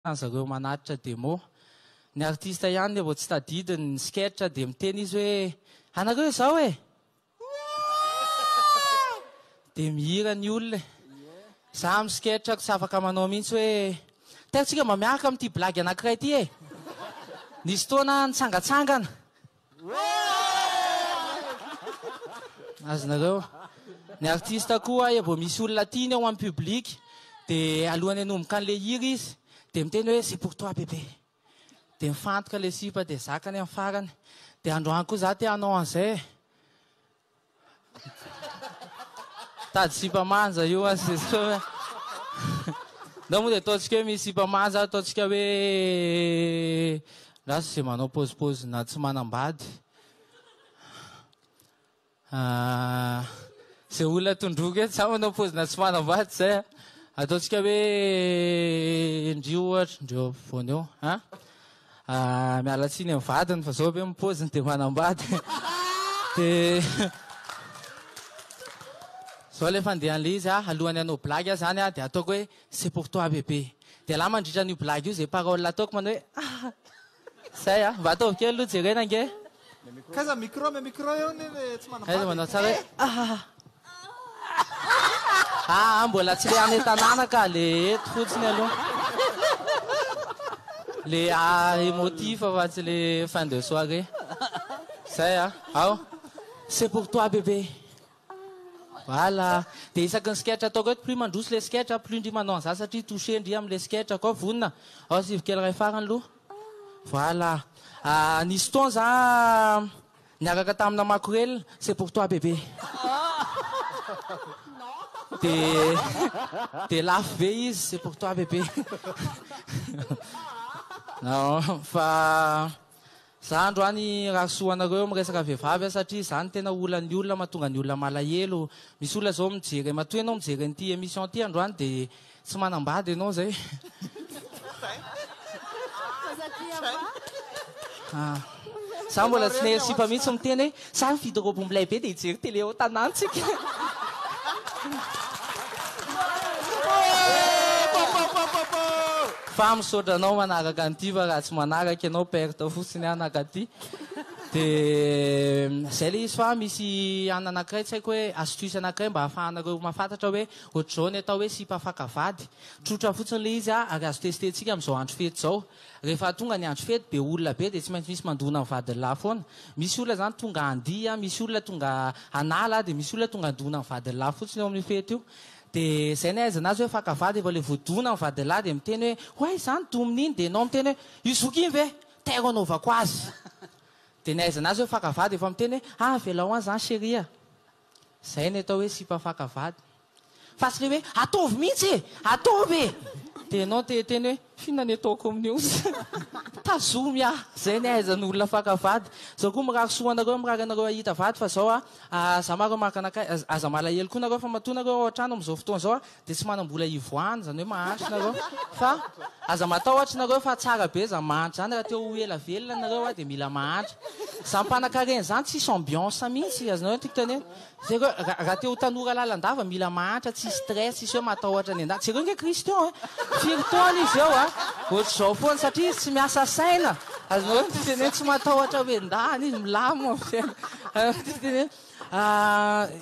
zareo manatitra demo. Ny artista ihany le vao tsy tadidiny ny sketch dia miteny izy hoe anareo izao e! Dia mihira ny olona e! Za amin'ny sketch ko tsy afaka manao mihitsy hoe teo tsika mba miaraka amin'ity blagy anankiray ity e! Nisy fotoana aho nitsangatsangana. Azonareo. Ny artista koa aya vao misy olona tiany ao amin'ny public dia alohan'ny hanomboka an'ilay hira izy dia miteny hoe c'est pour toi bébé. Dia mifantoka ilay sipa dia zakany amin'ny farany. Dia androany koa za te hanao an'izay e. Tady sipa manja io a sy zao a. Ndao moa dia ataontsika hoe misy sipa manja, ataontsika hoe lasa izay manao paozipaozina tsy manam-bady. Ah, izay olona tondroiko eto sa manao paozina tsy manam-bady izay a. Ataontsika hoe ndry ohatra, ndry eo afovoany eo a. Ahh miala tsiny amin'ny vadiny fa zao ve ny poziny dia manambady dia zao ilay fandehan'ilay izy ah alohany hanao blagy aho zany ah dia ataoko hoe c'est pour toi bébé dia la mandritra an'io blagy io izay paroles ataoko manao hoe ahh zay ah mba ataovy kely aloha jerena ange. Kaiza micro me micro eo ne le tsy manam-bady. Kaiza manao tsara hoe ah. Ah, mbola tsy le any tanàna ka le eto fotsiny aloha. Le ah emotif fa tsy le fin de soirée. Zay ah. Ao. C'est pour toi bébé. Voilà. Dia isaky ny sketch ataoko eto, plus mandroso ilay sketch a, plus ndry manao an'izany satria touché ndry amin'ilay sketch a. Koa vonona. Ao sivy kely iray farany aloha. Voilà. Ah, nisy fotoana za niaraka tamina makorelina, c'est pour toi bébé. Dia dia lafo be izy, c'est pour toi bébé. Fa Zandro any rahasoa anareo miresaka vehivavy a satria zany no tena olan'ny olona mahatonga ny olona malahelo. Misy olona zao mijery matoa ianao mijery an'ity emission ity androany de tsy manambady ianao zay. Fa satria va? Za mbola tsy naheno sipa mihitsy miteny hoe. Za mividy robe milay be dia hijery télé ao tanantsika. Fa misaotra anao manaraka an'ity fa raha tsy manaraka ianao perte fotsiny aho nankaty. Dia izay ilay izy fa misy anona anankiray tsy haiko hoe astuce anankiray mba ahafahanareo mahafantatra hoe ohatr'izao ny atao hoe sipa faka vady. Trotra fotsiny ilay izy ary azo tester-tsika amin'izao andro fety izao. Rehefa tonga ny andro fety be olona be dia tsy maintsy misy mandona ny vadin'lah foana. Misy olona izany tonga handihy, misy olona tonga hanala dia misy olona tonga handona ny vadin'lah fotsiny eo amin'io fety io. Dia izay ny ahaizana azy hoe fankavady vao ilay voadona ny vadin'lah dia miteny hoe oay izaho no domin'ny iny dia ianao miteny hoe io zoky iny ve? Tairo anaovako azy. Dia ny ahaizana azy hoe fankavady efa miteny hoe ah avelao an izany chérie a. Izay ny atao hoe sipa faka vady. Fa tsy ilay hoe ataovy mihitsy e! Ataovy e! Dia ianao te hiteny hoe f'inona ny ataoko amin'io? Tazomy aho! Izay ny ahaizan'ny olona faka vady. Izao koa mirary soa ho anareo, mirary anareo hahita vady fa izao aza marina, aza malahelo koa nareo fa matoa nareo ao an-trano amin'izao fotoana izao Dia tsy manam-bola hivoahana, izany hoe mahantra nareo. Fa aza matahotra nareo fa tsara be izany mahantra izany, raha te ho ela velona nareo a, dia mila mahantra. Izany mpanankarena izany tsisy ambiance mihintsy, azonareo ny tiako tenena? Jereo, ra, raha te ho tanora lalandava mila mahantra, tsisy stress, tsisy hoe matahotra ny an-danitra. Jereo nge Christian e! Firy taona izy eo a, ohatr'izao foana, satria izy tsy miasa saina, azonareo ny tiako tenena? Tsy matahotra hoe ndany izy, milamina ny fiainany. Azonareo ny tiako tenena?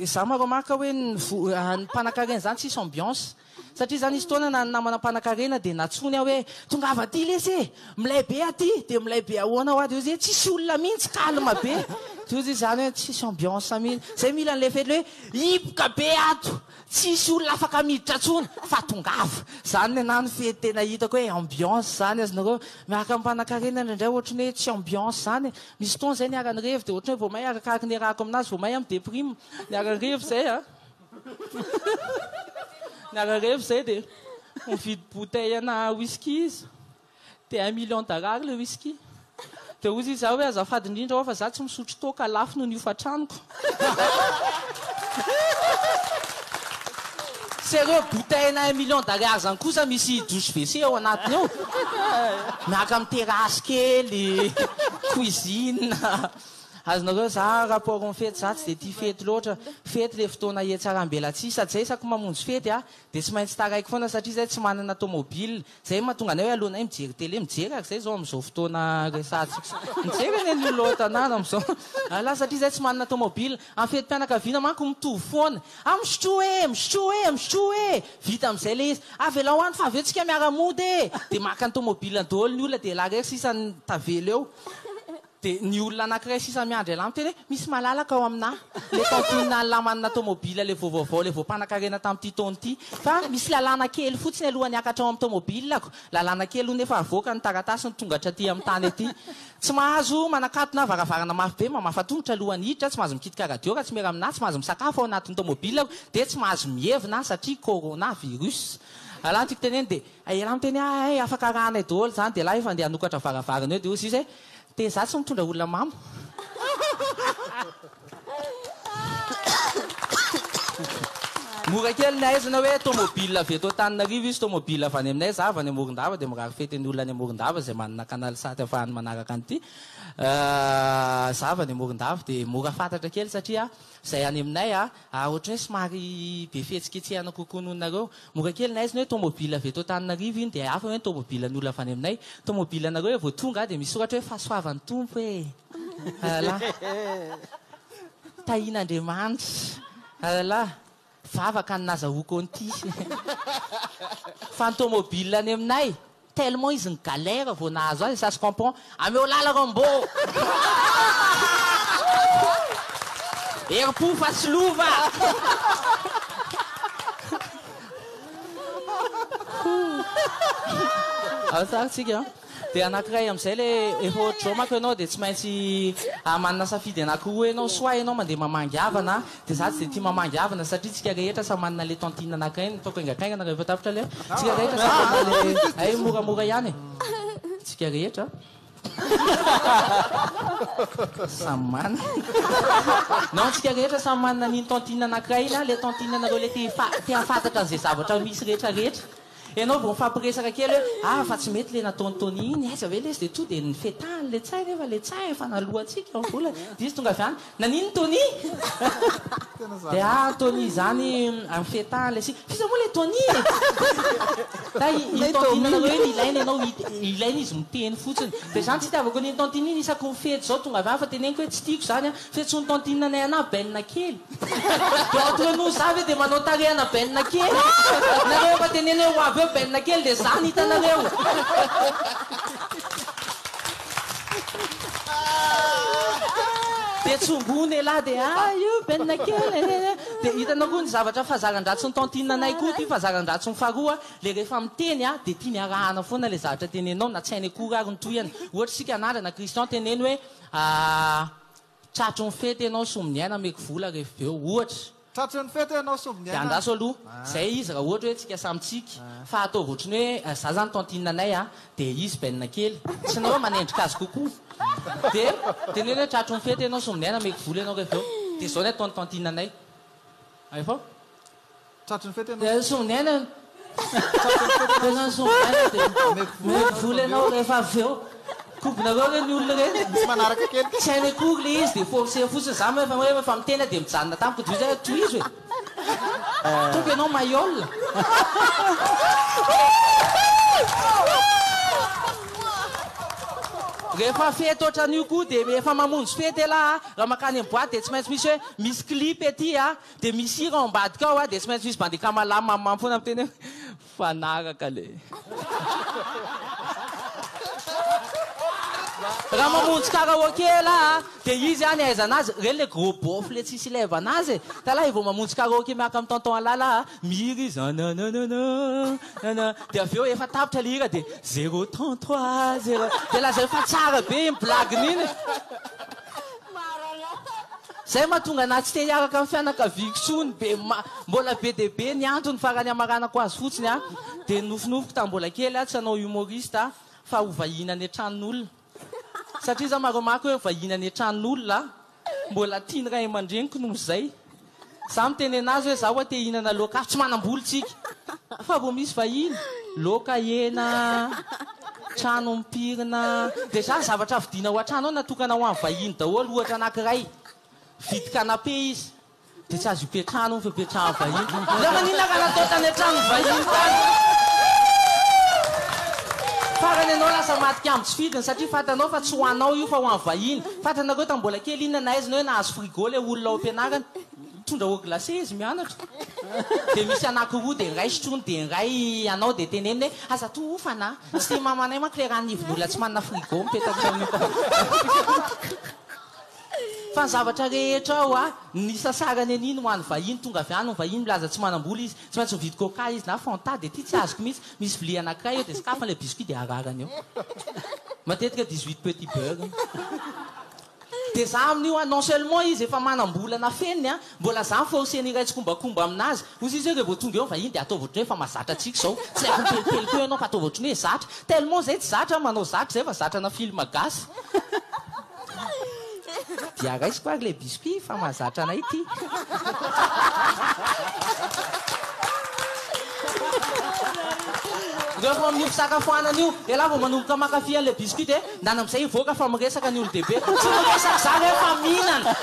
Izaho ma-remarque hoe ny ny mpanankarena izany tsisy ambiance. Satria izaho nisy fotoana na ny namana mpanankarena dia nantsoiny aho hoe tongava aty lesy e! Milay be aty! Dia milay be ahoana hoa? Dia hoy izy hoe tsisy olona mihitsy, calme be. Dia hoy izy izany hoe tsisy ambiance mihitsy. Izay mila an'ilay fety ilay hoe hipoka be ato! Tsisy olona afaka miditra intsony fa tongava. Zany nenah no fety tena hitako hoe ambiance zany azonareo hoe miaraka amimpanankarena indraindray ohatry ny hoe tsy ambiance zany e. Misy fotoana zay ny haran'ny revy dia ohatry ny hoe vao may arakaraky ny iarahako aminazy vao may aho mi-deprime. Ny haran'ny revy zay a. Ny haran'ny revy zay dia mividy bouteille ana whisky izy. Dia un million d'arary le whisky. Dia hozy izaho hoe azafady indrindra ho'a fa izaho tsy misotro toaka, lafo noho ny hofan-tranoko. Sy ireo bouteille-na un million d'arary izany kosa misy douche WC ao anatiny ao. Miaraka amin'ny terasy kely, cuisine. Azonareo zara rapport amin'ny fety, izaho tsy dia tia fety loatra. Fety ilay fotoana hihatsaram-belatsihy. Sady izaho isaky ny mamonjy fety dia tsy maintsy taraiko foana satria izaho tsy manana tomobile. Zay mahatonga anay hoe alohanay mijery télé mijery ary zay zao amizao fotoana resahantsika zao mijery anie ny olona ao an-tanàna amizao ary lasa satria zay tsy manana tomobile am fetim-pianakaviana manko mitovy foana ah misotroa e misotroa e misotroa e vita amizay le izy avelao any fa avy eo tsika miara-mody e dia maka ny tomobilany daholo ny olona dia la irery sisa ny tavela eo Dia ny olona anankiray sisa miandry an'lah miteny hoe, Misy malalaka ao aminà ilay kantonina an'lah manana taomobila ilay voavaovao ilay voampanan-karena tamin'ity taona ity. Fa misy lalàna kely fotsiny alohan'ny hiakatra ao amin'ny taomobilako. Lalàna kely hono efa avoaka ny taratasy ny tonga hatraty amin'ny tany aty. Tsy mahazo manakatona na varavarana mafy be, mamafa tongotra alohan'ny hiditra, tsy mahazo mikitika radio raha tsy miara-minà, tsy mahazo misakafo ao anatin'ny taomobilako, dia tsy mahazo mievina satria corona virus. Raha ny tiako tenenina dia. Ela miteny ah eh afaka arahanay doholy zany de lahy efa ndeha hanokatra varavarana eo de ozy izy hoe de za tsy mitondra olona mamo mora kely ny ahaizana hoe tomobile avy eto Antananarivo izy tomobile avy any aminay za avy any Morondava de mirary fety ny olona any Morondava zay manana canal sat afahany manaraka an'ity za avy any Morondava de mora fantatra kely satria zay any aminay ah Ary ohatran'ny hoe somary be fihetsiketsehana kokoa noho ny nareo. Mora kely ny haizina hoe tomobile avy eto Antananarivo iny dia hafa hoe ny tomobile ny olona avy any aminay. Tomobile anareo eo vao tonga dia misoratra hoe fahasoavan'ny Tompo e! Alalaa. Tahian'Andriamanitra. Alalaa. Vavaka ny nazahoako an'ity. Fa ny tomobile any aminay. Tellement izy ni galère vao nahazo azy ça se comprend ameo lala Rambo herim-po fa tsy lova tsika de anakiray amizay le efa ohatr'izao manko ianao de tsy maintsy manana safidy anakiroa ianao soit ianao mandeha mamangy havana Dia za tsy dia tia mamangiavana satria tsika rehetra samy manana le tantine anankiray ny ataoko haingantaingana rehefa tapitra le tsika rehetra samy manana le hay moramora ihany e tsika rehetra samy manana non tsika rehetra samy manana an'iny tantine anankiray iny an le tantine anareo le te te hafantatra an'izay zavatra misy rehetra rehetra Ianao vao mifampiresaka kely hoe ah fa tsy mety le nataon'i Tony iny, aiza ve lesy de tonga de nifetahany le tsay nefa le tsay efa naloantsika ny volany dia izy tonga avy any naninona Tony? dia ah Tony izany nifetahany lesy iny, f'iza moa le Tony e? ta i tantinanareo iny ilaina ianao ilaina izy miteny fotsiny, dia izany tsy itiavako an'iny tantine iny isaky ny fety izao tonga avy any fa teneniko hoe tsy tiako izany an, Fetson'i tantine anay ana benina kely. Dia ao toy an'o za ve dia manao tarehy ana benina kely? Nareo efa teneno eo ho avy eo benina kely dia za no hitanareo. Dia tsongoiny elah dia ah io benina kely eh eh. Dia hitanao koa ny zavatra fazaran-dratsin'i tantine anay koa ity fazaran-dratsiny faharoa ilay rehefa miteny ah dia tiany arahana foana ilay zavatra tenenao na tsy hainy akory ary ny tohiny. Ohatra isika anandrana Christian teneno hoe Aah tratry ny fety ianao Sombiniaina ameko vola ref veo ohatra. Tratry ny fety ianao Sombiniaina. Dia andraso aloha izay izy raha ohatra hoe tsika samy tsiky fa ataovy ohatran'ny hoe za zany tantine anay a dia izy benina kely tsy nao hoe manendrika azy kokoa dia teneno hoe tratry ny fety ianao Sombiniaina ameko vola ianao ref veo dia zao ny ataon'ny tantine anay. Hay fo. Dia songaina ny tena songaina dia omeko vola ianao rehefa avy eo. Kobonareo re ny olona ireny. Tsy any akory ilay izy dia forcer fotsiny. Za moa rehefa efa miteny aho dia mijanona tamiko dia hoy za tohizo e! Ataoko ianao maillole. Rehefa fety ohatran'io koa dia efa mamonjy fety elah a! Raha mankany amin'ny boite dia tsy maintsy misy hoe misy clip ety a! Dia misy hira ao ambadika ao a, dia tsy maintsy misy bandy kamala mamimamy foana miteny hoe mifanaraka le. Raha mamonjy karaoke ialahy a, dia izy any ahaizana azy, ireny le gros beauf le tsisy ilevana azy e. Ialahy vao mamonjy karaoke miaraka amin'ny tonton ialahy a, mihira izy anananana nana, dia avy eo efa tapitra le hira dia zéro trente trois zéro, dia lazainy fa tsara be iny blague-ny iny. Maranatha. Zay mahatonga anah tsy te hiaraka am fianakaviako tsony be ma mbola be de be ny antony fa raha ny amaranako azy fotsiny a de nofinofiko tam mbola kely a tsy hanao humoriste a fa ho vahiny any atrann olona satria za ma remarque hoe vahiny any atrann olona a mbola tiany ray amandreniko noho zay Za miteny anazy hoe za oa te hihinana loaka hafa tsy manamboly tsika fa vo misy vahiny loaka hena trano mipirina de za zavatra vidina ao antrano ao natokana ho any vahiny daholo ohatra anakiray vidy canapé izy de tsy azo ipetrahana hono fa ipetrahany vahiny za maninona ka natao tany antrano vahiny tany farany enao lasa maty kamo tsy fidiny satria fatanao fa tsy ho anao io fa ho any vahiny fatanareo tam bola kely inona nahaizinao hoe nahazo Hugo le olona ao ampianarana mitondra eau glacée izy mianatra dia misy anaky roa dia ny iray sotroiny dia ny iray anao dia teneniny hoe aza toa hofana a! tsy mamanay manko le ran'ivon'olona tsy manana frigo mipetaka ao fa ny zavatra rehetra ao a ny sasarany anie ny ho an'ny vahiny tonga avy any ny vahiny milaza tsy manam-bola izy tsy maintsy mividy coca izy na fanta dia ity tsy azoko mihitsy misy vilia anakiray eo dia sokafany le biscuit dia ararany eo matetika dix huit petit beurre Dia za amin'io an, non seulement izy efa manam-bola nafeniny an, mbola za forceny hiray tsikombakomba amin'azy. Hoy izy hoe revô tonga eo ny vahiny dia ataovy ohatran'ny hoe efa mahazatra antsika izao. Tsy haiko mipelipely koa ianao fa ataovy ohatran'ny hoe zatra. Tellement izay tsy zatra an, manao zatra izay fa zatrana film gasy. Dia raisiko ary ilay biscuit fa mahazatra anay ity. Rehefa ao amin'io fisakafoanana io, ialahy vao manomboka maka fy an'ilay biscuit dia. Ndana amzay hivoaka fa miresaka ny olodehibe eto tsy miresaka zany hoe fa mihinana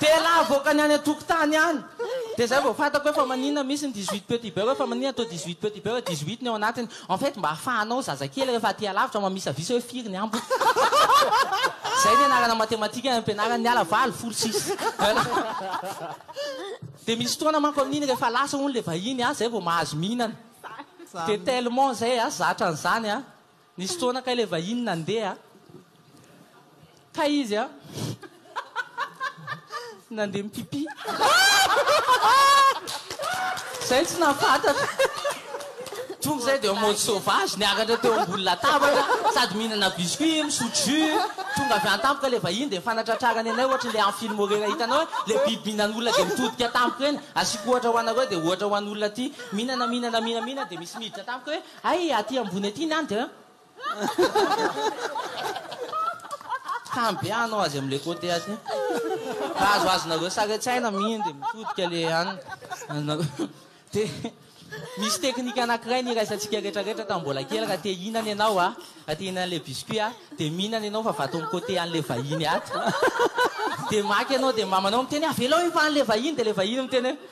de la avoakany any antokotany any de zay vao fatako hoe fa maninona misy ny dix huit petit beurre hoe fa maninona atao dix huit petit beurre dix huit ny ao anatiny en fait mba afahanao zazakely refa aty alavitra mamisavisa hoe firy ny ambiny zay ny anarana matematika any ampianarana ny ala valo folo sisa de misy fotoana manko amininy refa lasa hono le vahiny a zay vao mahazo mihinana de tellement zay a zatra anzany a. Nisy fotoana kay ilay vahiny nandeha kay izy an, nandeha mi-pipi. Izay tsy nahafantatra. Tonga izay dia en mode sauvage, niakatra teo ambony latabatra, sady mihinana biscuit, misotro jus. Tonga avy any tampoka ilay vahiny dia nifanatratrarany anay ohatry ny ilay amin'ny film reny hitanao hoe ilay biby mihinana olona dia mitodika tampoka eny. Asiako ohatra ho anareo dia ohatra ho an'olona ity, mihinana, mihinana, mihinana, mihinana dia misy miditra tampoka hoe. Hay aty ambony aty ny ande an. Hambeanao azy amle cote aty. Raha azoazonareo saretsaina minde mitodika le an anareo. De misy teknika anakiray niraisantsika retraretra tam mbola kely raha te hinana enao a raha te hinana le biscuit a de mihinana enao fa vatom cote anle vahiny ato de maka enao de mamanao miteny avelao hivahanle vahiny de le vahiny miteny hoe